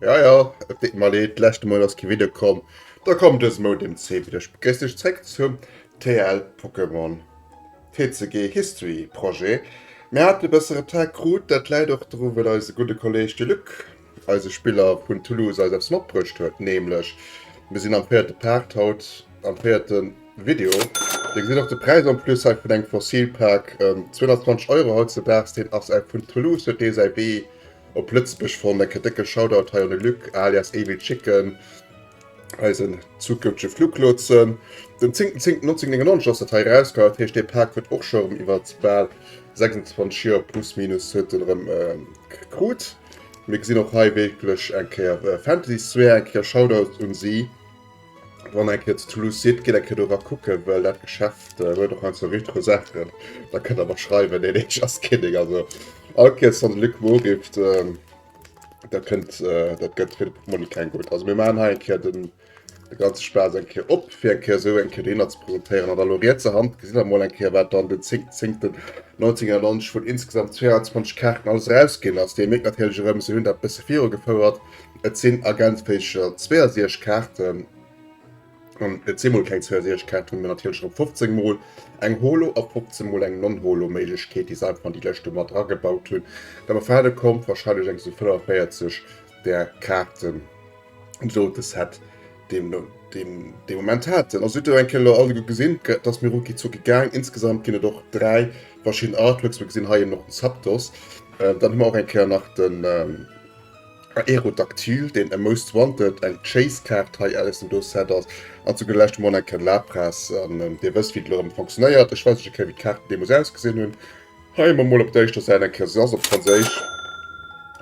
Ja ja, et deet mer leed, d'leschte Mol ass kee Video komm, da komm dëse Mou dem C widder. Ech begréiss dech zréck zum TL Pokémon TCG History Projet. Mir haten e bësse Retard krut, dat läit och dru well eise gudde Kolleg Diluc, eise Spiller vun Toulouse eis eppes matbruecht huet, nämlech mir sinn am véierte Part haut, am véierte Video. Dir gesitt och de Präis en plus hei vun engem Fossil Pack, 220 Euro haut ze daags, deen ass vun Toulouse, huet dee säi Wee Op Lëtzebuerg fonnt, en kënnt décke Shoutout hei un de Luc alias Evil Chicken, eisen zukünftege Fluglotsen. Den 10.10.1999 ass dat hei erauskomm, dat heescht dee Pak huet och scho rëm iwwer bal 26 Joer plus minus huet en erëm krut. Mir gesinn och hei wierklech eng Kéier Fantasy Sphere, eng Kéier Shoutout un si. Wann eng Kéier zu Toulouse sidd, gitt eng Kéier do rakucken, well dat Geschäft äh, huet och ein, zwou retro Saachen. Da kënnt der mer schreiwen, nee, nee, just kidding. Also, all Kéier wann de Luc Moore rifft, äh, dat kënnt, äh, dat gëtt fir de Portmonni keng gutt. Also, mir maachen hei eng Kéier den, de ganze Spaass eng Kéier op, fir eng Kéier esou eng Kéier de Inhalt ze presentéieren. An da lo rietser Hand gesitt der mol eng Kéier, wat dann den 10.10. 1991 vun insgesamt 22 Kaarten alles erausginn ass. Dir mierkt natierlech erëm, se hunn dat e bësse virugefouert. Et sinn ergänzfähig 62 Kaarten, an et si mol keng 62 Kaarten, mä natierlech erëm 15 mol eng Holo a 15 mol eng Non-Holo Méiglechkeet, déi se einfach an déi lëscht do mat agebaut hunn. Dann erwaarde kommt wahrscheinlech eng esou 45 där Kaarten, esou de Set deen mer dee Moment haten. Also sidd der eng Kéier elo alleguer gesinn, dat ass mir rucki zucki gaang. Insgesamt ginn et och dräi verschidden Artworks, mir gesinn hei eben och den Zapdos, dann hu mer och eng Kéier nach den. Aerodactyl, deen e Most Wanted, eng Chase-Kaart, hei aus dem do Set ass, an zu guer lescht mol eng Kéier Lapras. An Dir wësst, wéi dat elo rëm funktionéiert. Ech weisen iech eng Kéier, wéi d'Kaarten deemools ausgesinn hunn. Hei hu mer mol op der éischter Säit eng Kéier, se ass op Franséisch,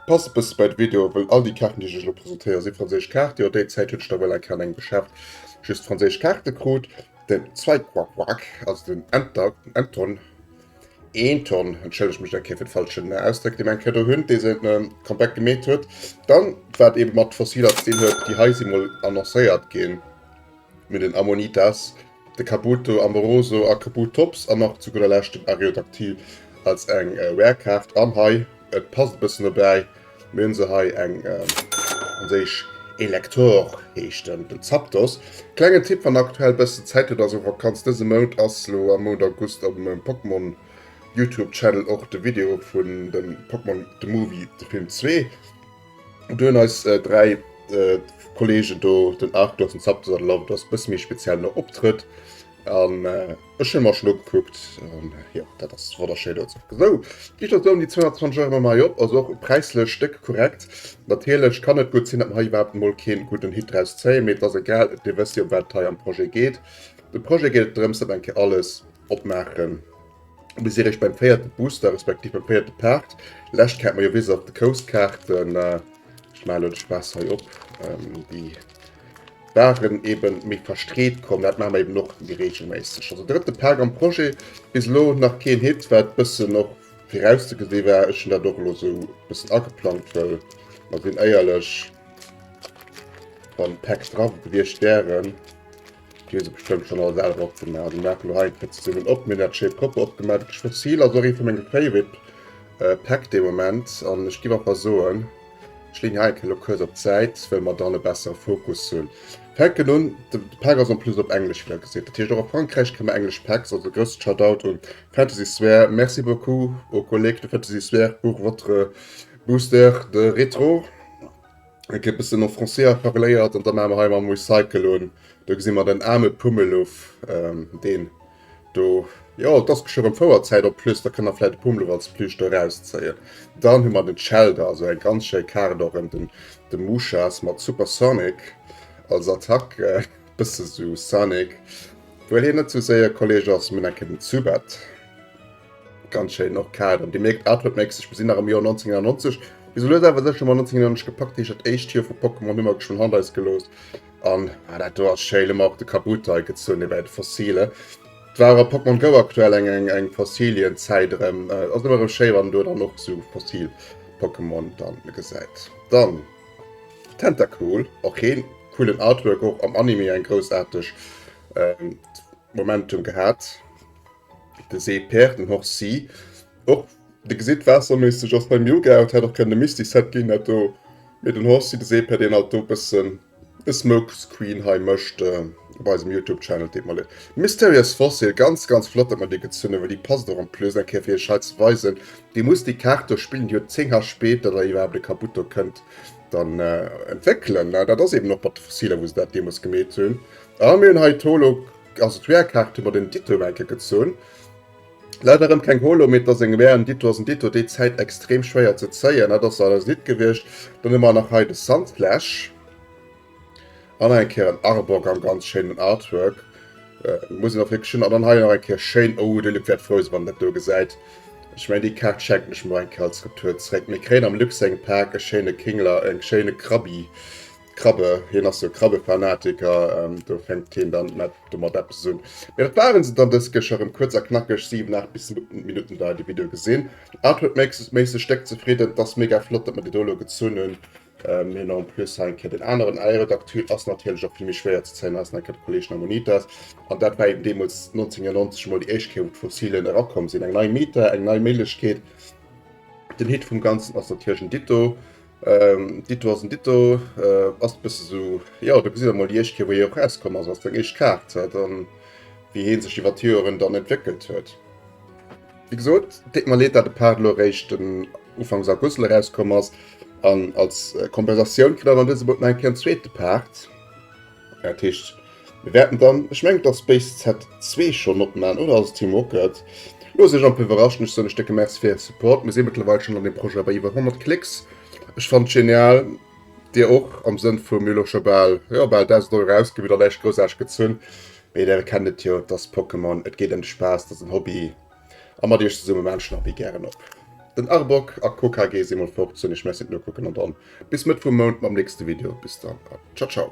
passt e bësse bei de Video, wëll all déi Kaarten, déi ech iech elo presentéieren, si franséisch Kaarten. Jo, déi Zäit huet ech da wuel eng Kéier an engem Geschäft just franséisch Kaarte krut. Den Zweiquaquaque, also den Enter, den Enton. een Tonn, entschëllegt mech eng Kéier fir de falschen Ausdréck, dee meng Credo hunn, dee se Comeback gemeet huet. Dann, wat eebe mat Fossiler ze dinn huet, déi hei si mol annoncéiert ginn, mir den Ammonitas, de Kabuto amoroso a Kabutops an nach zu gudder Lescht den Arreodactyl als eng Rare-Kaart. An hei, Et passt e bëssen dobäi. Mir hunn se hei, eng franséisch Elector heescht en, den Zapdos. Klengen Tipp, wann der aktuell bëssen Zäit hutt, also Vakanz dëse Mount, ass lo am Mount August op mengem Pokémon Youtube Channel och de Video vun dem Pokémon The Movie, de Film, zwee. Do hunn eis 3 Kollegen do, den Arceus, den Zapdos an de Lavados, e bësse méi speziell nach optrëtt. Ech hun mer schon ugekuckt an jo dat ass wonnerschéin do. Sou gich dat soen, déi 220 Euro mam High op ass och präislech déck korrekt. Natierlech kann et gutt sin dat mer hei iwwerhaapt emol keen gudden Hit draus zéien, mee et ass egal, dir wësst jo em wat et hei am Projet geet. Dem Projet geet et drëms dat eng Kéier alles opmaachen bis dir iech beim véierte Booster respektiv beim véierte Part, lescht Kaart, majo Wizards of the Coast Kaarten, ech maachen elo de Spaass hei op déi. Waren eben méi verstreet komm, dat maache mer eben och méi reegelméisseg. Also drëtte Pak am Projet, bis elo nach keen Hit, wat bëssen och virauszegesinn war. Ech hunn dat och elo sou bëssen ageplangt, well mer sinn éierlech, wann Päck dra gewiescht wären, déi hu se bestëmmt schonn all selwer opgemaach. Déi maachen elo hei eng Kéier zesummen op. Mir hunn dat Shape Copper opgemaach, dat Geschwëtz Seal ass och ee vu menge Favorite Päck de Moment an ech giff einfach soen, Ech leeën hei eng Kéier elo kuerz op d'Säit, well mer dann e bessere Fokus hunn. Fänken un, de Pack ass en plus op Englesch, wéi der gesit. Dat heescht, och a Frankräich kréie mer englesch Packs. Also e grousse Shoutout un Fantasy Sphäre. Merci beaucoup aux collègues de Fantasy Sphäre pour votre Booster de Retro. Eng Kéier e bëssen en Français parléiert an da maache mer hei emol Recycle un. Do gesi mer den aarme Pummeluff, deen Do, jo, et ass geschwë rëm Fouerzäit, op d'plus, da kënnt der vläit e Pummel als Plüsch do erauszéien. Dann hu mer den Shellder, esou eng ganz schéi Kaart och ëm den, de Mushas mat Super Sonic als Attack, e bësse sou Sonic, wuel hien net sou séier, Kolleeg ass, mee enke den Zubat. Ganz schéin och Kader. Dir mierkt Artwork Makes, ech besinn nach am Joer 1999. Esou lues awer sécher mat 1999 gepackt, heescht dat éischt Joer vu Pokémon hu mer geschwënn hannert eis gelooss. An ah, dat do ass schéin, hu mer och de Kabuto hei gezunn, hie war jo de Fossile. Et war a Pokémon Go aktuell eng eng eng Fossilienzäit erëm. Ass ëmmer erëm schéi wann do dann och sou fossil Pokémon dann gesäit. Dann Tentacool, och heen coolen Artwork, och am Anime eng groussaarteg Momentum gehat de see Père den Horst si och de gesitt waasserméisseg ass beim Yoga et hätt och kënne Misty Set ginn dat do mee den Horst si de see Père deen alt do bëssen de Smoke Screen hei mëscht op eisem Youtube Channel deet mer leed. Mysterious Fossil ganz ganz flott dat mer déi gezunn hu well déi passt och en plus eng Kéier fir iech hei ze weisen dir musst déi Kaart do spillen déi huet 10 HP datt der iwwerhaapt e Kabutt do kënnt dann entwéckelen ne dat ass eben och mat de Fossiler wou se dat deemools gemeet hunn. A mir hunn hei d'Holo, also d'VR-Kaart hu mer den Ditto nach eng Kéier gezunn. Leider erëm keng Holo, mee et ass eng VR, en Ditto ass en Ditto, déi Zäit extrem schwéier ze zéien, dat ass leider nit gewiescht. Dann hu mer nach hei de Sandflash an nach eng Kéier en Arbok am ganz schéinen Artwork, muss een och wierklech hunn. An dann hei nach eng Kéier schéin, oh de Luc wäert frou sinn, wann en dat do gesäit. Ech mengen déi Kaart schenken ech mer eng Kéier als Retour zréck. Mir kréien am Luxengpaak e schéine Kingler, e schéine Krabi, Krabbe, hien ass jo Krabbefanatiker, do fänkt hien dann net domat eppes un. Mee dat waren se dann dës Kécher erëm, kuerz a knackeg, 7, 8 bis Minutten dauert de Video. Gesinn artworkméisseg déck zefridden, et ass mega flott, datt mer déi do elo gezunn hunn, mee en plus hei eng Kéier deen aneren. Aerodactyl ass natierlech och fir mech schwéier ze zéien, hei ass nach eng Kéier de Kolleg Nahmonitas an dat war eben deemools 1999 mol déi éischt Kéier wou d'Fossilen erakomm sinn. Eng nei Meta, eng nei Méiglechkeet. Den Hit vum Ganzen ass natierlech en Ditto, Ähm, ditto ass en ditto. Äh, ass bësse sou, ja, da gesitt emol déi éischt Kéier, wou hie och rauskomm ass, ass deng éischt Kaart, äh, dann, wéi hie sech iwwer d'Joeren dann entwéckelt huet. Wéi gesot, deet mer leed, dat de Part elo eréischt den Ufanks August elo rauskomm ass. An als Kompensatioun kritt awer an dësem Mount nach eng Kéier en zweete Part. Dat heescht, mir wäerten dann, ech mengen, dass Base Set zwee schonn opman, oder ass et Team Rocket? Loosst Iech amper iwwerraschen. Ech soen lech décke Merci fir Äre Support. Mir si mëttlerweil schonn an deem Projet bei iwwer 100 Klicks. Ech fannen et genial, Dir och, am Sënn vu mir elo scho bal, jo, bal 1.000 Euro ausginn, wëll der näischt groussarteg gezunn. Mee Dir erkennt et jo, et ass Pokémon, et geet ëm de Spaass, et ass en Hobby. a mat iech zesumme Menschen a Wee gären op den Arboc a Co KG si mol fort, soen iech Merci fir d'Nokucken an dann bis Mëtt vum Mount mam nächste Video. Bis dann a ciao ciao.